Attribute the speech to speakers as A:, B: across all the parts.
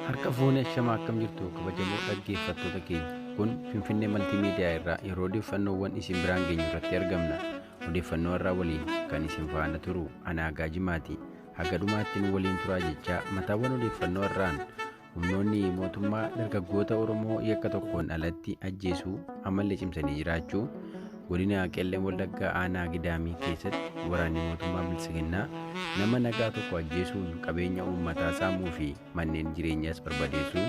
A: Harka fuune ashamaa akkam jirtu kabajamoo dhaggeeffattoota keenya. Kun Finfinnee Maltiimiidiyaa irraa yeroo odeeffannoowwan isin biraan geenyu irratti argamna. Odeeffannoo irraa waliin kan isin faana turu anaa Gaajimaati. Haga dhumaatti nu waliin turaa jechaa mataawwan odeeffannoo irraan Humnoonni mootummaa dargaggoota Oromoo yakka tokkoon alatti ajjeesuu ammallee cimsanii jiraachuu godina Qellem Wallaggaa aanaa Gidaamii keessatti waraanni mootummaa Biltsiginnaa nama nagaa tokko ajjeesuun qabeenya uummataa saamuu fi manneen jireenyaas barbadeessuu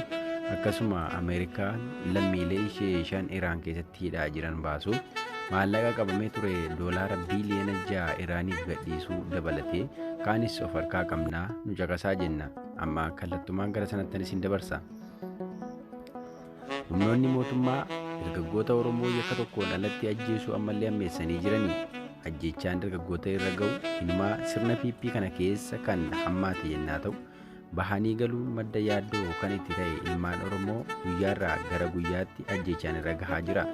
A: akkasuma Ameerikaan lammiilee ishee shan Iraan keessatti hidhaa jiran baasuu maallaqa qabamee ture doolaara biiliyoona ja'a Iraaniif gadhiisuu dabalatee kaanis of harkaa qabnaa nu caqasaa jenna. Amma kallattumaan gara sanattan isin dabarsa. Humnoonni mootummaa dargaggoota Oromoo yakka tokkoon alatti ajjeesuu ammallee ammeessanii jiranii ajjeechaan dargaggoota irra ga'u hinumaa sirna PP kana keessa kan hammaate yennaa ta'u bahanii galuun madda yaaddoo kan itti ta'e ilmaan Oromoo guyyaarraa gara guyyaatti ajjeechaan irra gahaa jira.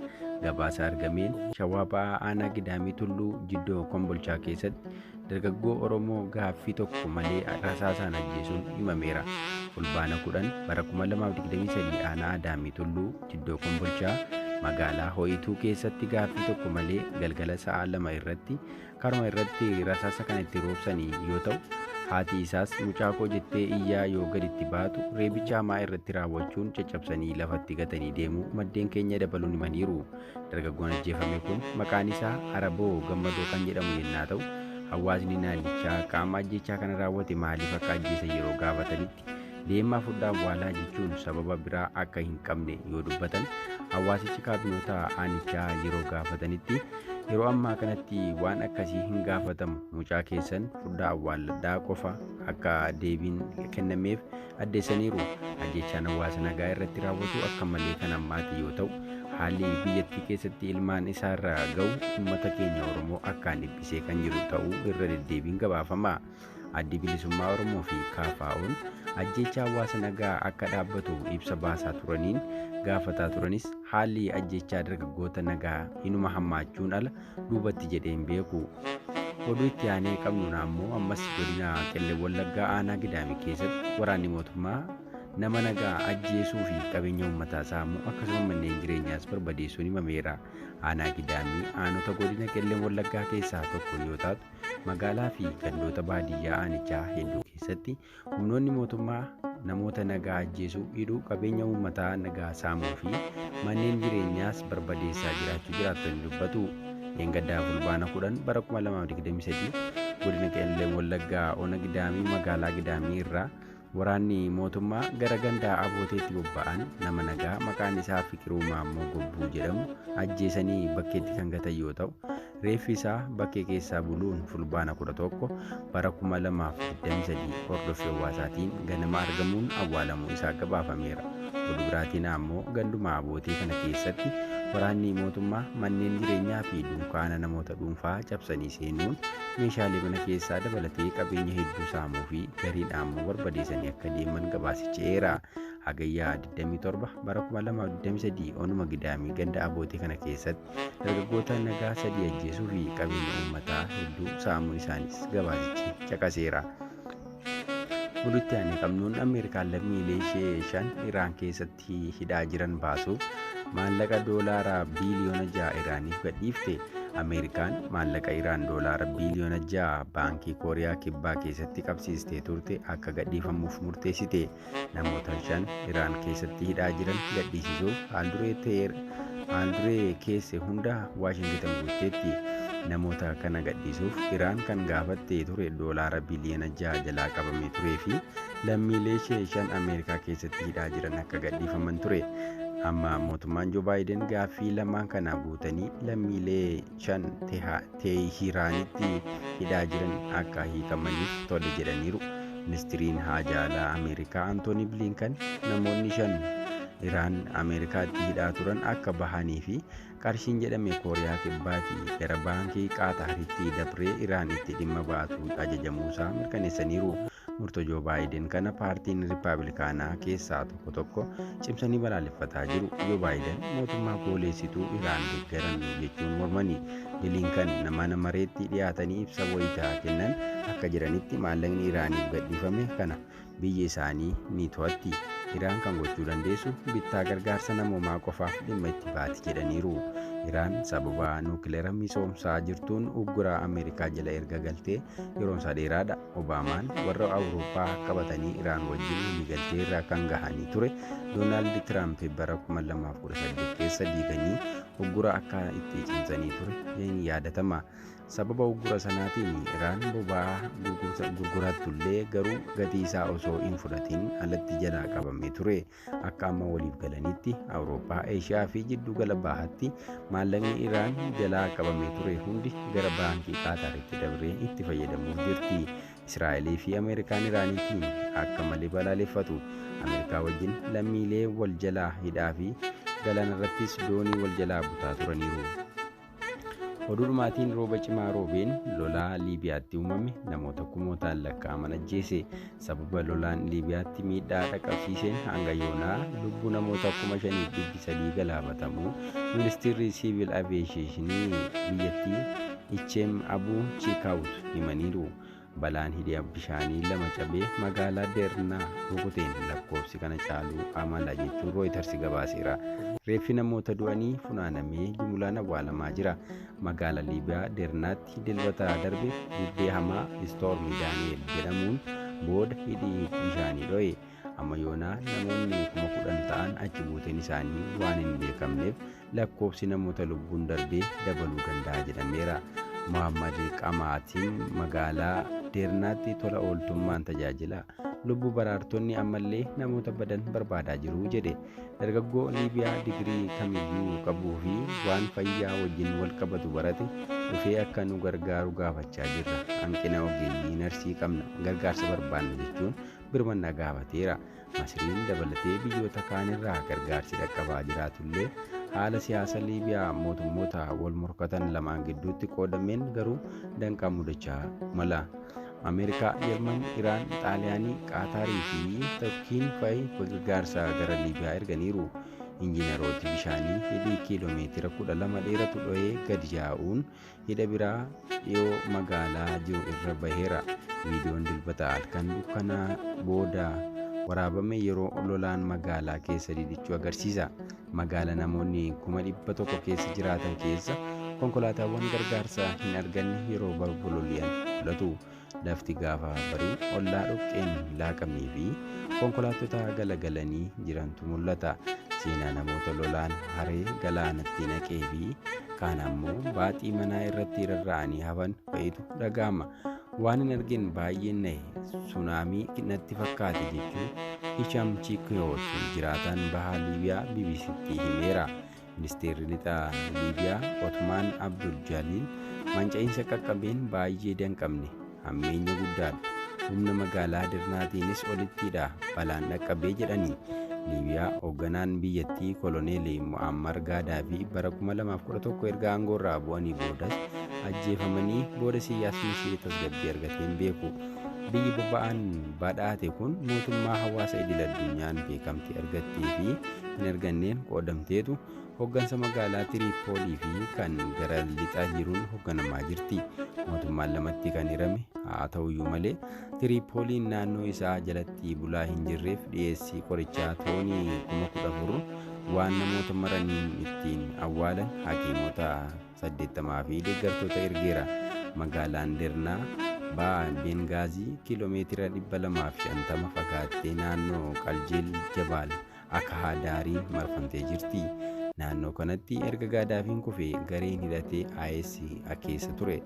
A: Gabaasa argameen shawaa ba'aa aanaa gidaamii tulluu jiddoo kombolchaa keessatti Dargaggoo Oromoo gaaffii tokko malee rasaasaan ajjeesuun himameera. Fulbaana 10 bara 2023 aanaa Adaamii Tulluu Jiddoo Kombolchaa magaalaa Ho'ituu keessatti gaaffii tokko malee galgala sa'a lama irratti karuma irratti rasaasa kan itti roobsanii yoo ta'u haati isaas mucaa koo jettee iyyaa yoo gaditti baatu reebicha hamaa irratti raawwachuun caccabsanii lafatti gatanii deemuu maddeen keenya dabaluun himaniiru. Dargaggoon ajjeefame kun maqaan isaa Araboo Gammadoo kan jedhamu yennaa ta'u, hawaasni naannichaa qaama ajjeechaa kana raawwate maaliif akka ajjeesan yeroo gaafatanitti deemaa fudhaa awwaalaa jechuun sababa biraa akka hin qabne yoo dubbatan, hawaasichi kaabinoota aanichaa yeroo gaafatanitti yeroo ammaa kanatti waan akkasii hin gaafatamu mucaa keessan fudhaa awwaalladhaa qofa akka deebiin kennameef addeessaniiru. Ajjeechaan hawaasa nagaa irratti raawwatu akka malee kan hammaate yoo ta'u, haalli biyyattii keessatti ilmaan isaa irra ga'u uummata keenya Oromoo akkaan dhiphisee kan jiru ta'uu irra deddeebiin gabaafama. Addi Bilisummaa Oromoo fi KFO'n ajjeechaa hawaasa nagaa akka dhaabbatu ibsa baasaa turaniin gaafataa turanis haalli ajjeechaa dargaggoota nagaa hinuma hammaachuun ala duubatti jedhee hin beeku. Oduu itti aanee qabnuun ammoo ammas godina Qellem Wallaggaa aanaa Gidaamii keessatti waraanni mootummaa nama nagaa ajjeesuu fi qabeenya uummataa saamuu akkasuma manneen jireenyaas barbadeessuun himameera. Aanaa Gidaamii aanota godina Qellem Wallaggaa keessaa tokko yoo taatu magaalaa fi gandoota baadiyyaa aanichaa hedduu keessatti Humnoonni mootummaa namoota nagaa ajjeesuu, hidhuu, qabeenya uummataa nagaa saamuu fi manneen jireenyaas barbadeessaa jiraachuu jiraattonni dubbatu. Dheengaddaa Fulbaana 10 bara 2023 godina Qeellee Wallaggaa Ona Gidaamii magaalaa Gidaamii irraa waraanni mootummaa gara gandaa abooteetti bobba'an nama nagaa maqaan isaa Fiqiruu Maammoo Gobbuu jedhamu ajjeesanii bakkeetti kan gatan yoo ta'u Reeffi isaa bakkee keessaa buluun fulbaana 11 bara 2023 hordoffii hawaasaatiin ganama argamuun awwaalamuu isaa gabaafameera. Oduu biraatiin ammoo ganduma abootee kana keessatti waraanni mootummaa manneen jireenyaa fi dunkaana namoota dhuunfaa cabsanii seenuun meeshaalee mana keessaa dabalatee qabeenya hedduu saamuu fi gariin ammoo barbadeessanii akka deeman gabaasicheera. Hagayyaa 27 bara 2023 onuma gidaamii ganda abootee kana keessatti dargaggoota nagaa sadii ajjeesuu fi qabeenya uummataa hedduu saamuu isaaniis gabaasichi caqaseera. Oduutti aanee qabnuun Ameerikaan lammiilee ishee shan Iraan keessatti hidhaa jiran baasuuf maallaqa doolaaraa biiliyoona ja'a Iraaniif gadhiifte. Ameerikaan maallaqa Iraan doolaara biiliyoona ja'a baankii Kooriyaa Kibbaa keessatti qabsiistee turte akka gadhiifamuuf murteessite. Namoota shan Iraan keessatti hidhaa jiran gadhiisisuuf haalduree Teer haalduree keesse hunda Waashingitan guutteetti. Namoota kana gadhiisuuf Iraan kan gaafatte ture doolaara biliyoona jaha jalaa qabamee turee fi lammiilee ishee shan Ameerikaa keessatti hidhaa jiran akka gadhiifaman ture. Amma mootummaan Joo Baayiden gaaffii lamaan kana guutanii lammiilee Chan Teehiraanitti hidhaa jiran akka hiikamaniif tole jedhaniiru. Ministiriin Haajaa Alaa Ameerikaa Antoonii Bilinkan namoonni shan Iraan Ameerikaatti hidhaa turan akka bahanii fi qarshiin jedhame Kooriyaa Kibbaati gara baankii Qaataaritti dabree Iraanitti dhimma baatuun ajajamuusaa mirkaneessaniiru. Murtoo Joo Baayiden kana paartiin Rippabilikaanaa keessaa tokko tokko cimsanii balaaleffataa jiru. Joo Baayiden mootummaa gooleessituu Iraan deeggaran jechuun mormanii Bilinkan mana mareetti dhiyaatanii ibsa wayitaa kennan akka jedhanitti maallaqni Iraaniif gadhiifame kana biyyi isaanii ni to'atti. Iraan kan gochuu dandeessu bittaa gargaarsa namoomaa qofaaf dhimma itti baati jedhaniiru. Iraan sababa nuukileera misoomsaa jirtuun ugguraa Ameerikaa jala erga galtee yeroonsaa dheeraadha. Obaamaan warra Awurooppaa qabatanii Iraan wajjin waliigaltee irra kan gahanii ture Doonaald Tiraamp bara 2018 keessa diiganii uggura akka itti cimsanii ture ni yaadatama. Sababa uggura sanaatiin Iraan boba'aa gurgurattullee garuu gatii isaa osoo hin fudhatiin alatti jalaa qabamee ture. Akka amma waliif galanitti Awurooppaa, Eeshiyaa fi jiddu gala bahaatti maallaqni Iraan jalaa qabamee ture hundi gara baankii Qaataaritti dabree itti fayyadamuuf jirti. Israa'elii fi Ameerikaan Iraaniitiin akka malee balaaleffatu. Ameerikaa wajjin lammiilee wal jalaa hidhaa fi galaanarrattis doonii wal jalaa butaa turaniiru. Oduudhumaatiin rooba cimaa roobeen lolaa Liibiyaatti uumame namoota kumootaan lakkaa'aman ajjeese. Sababa lolaan Liibiyaatti miidhaa dhaqqabsiiseen hanga yoonaa lubbuu namoota kuma shaniif dhibbi sadii galaafatamuu ministeerri siivil aviyeeshinii biyyattii Icheem Abuu Chiikaawut himaniiru. Balaan hidhi bishaanii lama cabee magaalaa Deernaa rukuteen lakkoofsi kana caaluu amala jechuun Rooyiters gabaaseera. Reeffi namoota du'anii funaanamee jumulaan awwaalamaa jira. Magaala Liibiyaa Deernaatti dilbata darbe bubbee hamaa Istoorm Daani'eel jedhamuun booda hidhi bishaanii dho'e. Amma yoonaa namoonni kuma kudhan ta'an achi buuteen isaanii waan hin beekamneef lakkoofsi namoota lubbuun darbee dabaluu danda'a jedhameera. Mohammad Qamaatiin magaalaa Deernaatti tola ooltummaan tajaajila. Lubbuu baraartonni ammallee namoota badan barbaadaa jiru jedhe. Dargaggoo Liibiyaa digirii kamiyyuu qabuu fi waan fayyaa wajjin wal qabatu barate dhufee akka nu gargaaru gaafachaa jirra. Hanqina ogeeyyii narsii qabna gargaarsa barbaanna jechuun birmannaa gaafateera. Masriin dabalatee biyyoota kaanirraa gargaarsi dhaqqabaa jiraatullee haala siyaasa Liibiyaa mootummoota wal morkatan lamaan gidduutti qoodameen garuu danqaa mudachaa mala. Ameerikaa, Jarman, Iraan, Xaaliyaanii, Qaataarii fi Turkiin fa'i gargaarsa gara Liibiyaa erganiiru. Injiinarooti bishaanii hidhii kiiloomeetira 12 dheeratu dho'ee gadi yaa'uun Hidha biraa dhiyoo magaalaa jiru irra baheera. Viidiyoon Dilbata halkan dukkanaa booda waraabame yeroo lolaan magaalaa keessa didichuu agarsiisa. Magaala namoonni kuma dhibba tokko keessa jiraatan keessa konkolaataawwan gargaarsaa hin arganne yeroo balbuloli'an mul'atu. Lafti gaafa barii ollaa dhoqqeen laaqamee fi konkolaattota galagalanii jirantu mul'ata. Seenaa namoota lolaan haree galaanatti naqee fi kaan ammoo baaxii manaa irratti rarra'anii hafan fa'itu dhaga'ama. Waan hin argin baay'een nahe sunaamii natti fakkaate jechuun Hisham Chikwewoot jiraataan bahaa Liibiyaa BBCtti himeera. Ministeerri Lixaa Liibiyaa Otmaan Abdul Jaaliil manca'iinsa qaqqabeen baay'ee danqamne, hammeenya guddaadha, humna magaalaa Dirnaatiinis olittidha balaan dhaqqabee jedhani. Liibiyaa hoogganaan biyyattii Koloneel Mu'ammar Gaadaafii bara 2011 erga aangoorraa bu'anii boodas ajjeefamanii booda siyaasni ishee tasgabbii argatee hin beeku. Biyyi boba'aan badhaate kun mootummaa hawaasa idil addunyaan beekamtii argattee fi hin arganneen qoodamteetu hoggansa magaalaa Tiriippoolii fi kan gara lixaa jiruun hogganamaa jirti. Mootummaan lamatti kan hirame haa ta'uyyuu malee Tiriippooliin naannoo isaa jalatti bulaa hin jirreef dhiyeessii qorichaa toonii kuma kudha afur waan namoota maraniin ittiin awwaalan hakiimota 80 fi deeggartoota ergeera. Magaalaan Dernaa ba'aa Bengaazii kiiloomeetira 250 fagaattee naannoo Qaljeel Jabaal akahaa daarii marfamtee jirti. Naannoo kanatti erga Gaadaafiin kufe gareen hidhatee IS keessa ture.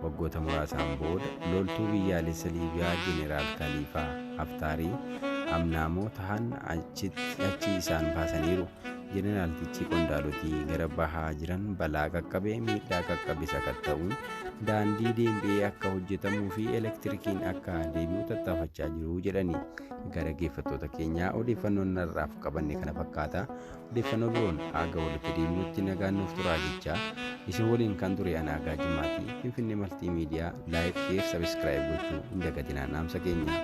A: Waggoota muraasaan booda loltuu biyyaalessa Liibiyaa Jeneraal Kaliifaa Haftaarii amnaamoo tahan achi isaan baasaniiru. Jeneraaltichi qondaaloti gara bahaa jiran balaa qaqqabe miidhaa qaqqabe sakatta'uun daandii deembi'ee akka hojjetamuu fi elektirikiin akka deebi'u tattaafachaa jiru jedhani. gara geeffattoota keenyaa odeeffannoon har'aaf qabanne kana fakkaata. Odeeffannoo biroon haga walitti deebinutti nagaan nuuf turaa jechaa isin waliin kan ture anaa gaajimmaati. Finfinnee Maltii Miidiyaa laayik, sheer, sabiskiraayib gochuu hin dagatinaa dhaamsa keenya.